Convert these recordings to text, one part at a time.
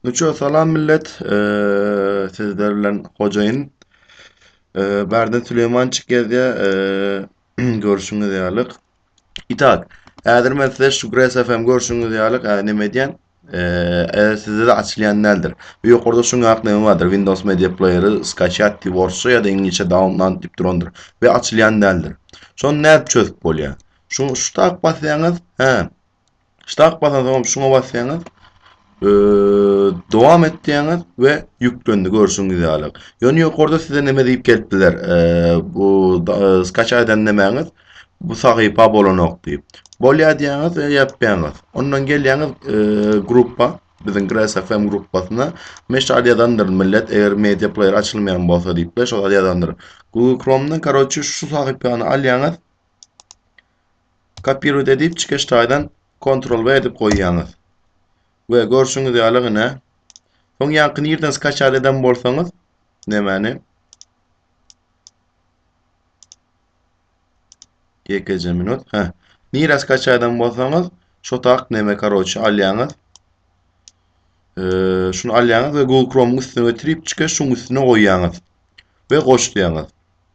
Nuço salam millet. Eee sizler bilen hojaýyn. Eee Bärden Süleymançyk gezýä. Eee görüşüňiz ýalyk. Itak. Häzir men size şu Grace FM görüşüňiz ýalyk. Eee näme edýän? Eee sizde de açylýan däldir. Bu ýokarda şu ňak näme bardyr? Windows Media Player-y skaçýat diýip orsça ýa-da iňlisçe download diýip durandyr. Ve açylýan däldir. Şony nädip çözüp bolýar? Şu şu tak basýaňyz. Hä. Ştak basaňyz şuňa basýaňyz. Dowam et diýäňiz we ýüklendi görşüňiz ýaly. Ýöne ýokarda size näme diýip gelip biler? Bu skaça eden nämäňiz? Bu sahypa bolanok diýip. Bolýa diýäňiz we ýapýaňyz. Ondan gelýäňiz gruppa, biziň Grass FM gruppasyna. Men şu ýazandyr millet, eger media player açylmaýan bolsa diýip, şol ýazandyr. Google Chrome'dan karoçi şu sahypany alýaňyz. Kopirowat edip çykyş taýdan kontrol we edip goýýaňyz. We görşüňiz ýaly gyne. Soň ýaňky nirden skaçat eden bolsaňyz, nemäni? Ýekeje minut. Hä. Nire skaçat eden bolsaňyz, şo tak neme karoçi alýaňyz. Eee, şunu alýaňyz we Google Chrome-yň üstüne getirip çykyş şuň üstüne goýýaňyz. We goş diýýäňiz.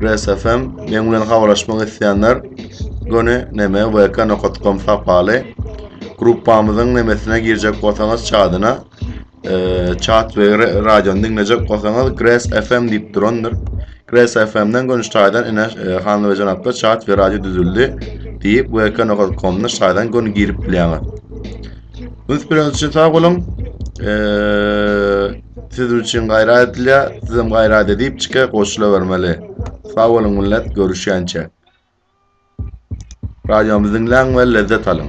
Res FM men bilen habarlaşmak isleýänler göni neme vk nokat kom sapaly gruppamyzyň nemesine girjek bolsaňyz çadyna çat e, we radiony diňlejek bolsaňyz Gres FM diýip durandyr. Gres FM-den göni şaýdan ene e, hanly we janaplar çat we radio düzüldi diýip vk nokat komda şaýdan göni girip bilýäňiz. Üns bereniz üçin sag boluň. Eee Siz üçin gaýrat edilýär, sizem gaýrat edip çyka goşula bermeli. Sag boluň millet, görüşýänçä. Radiomuzy diňläň we lezzet alyň.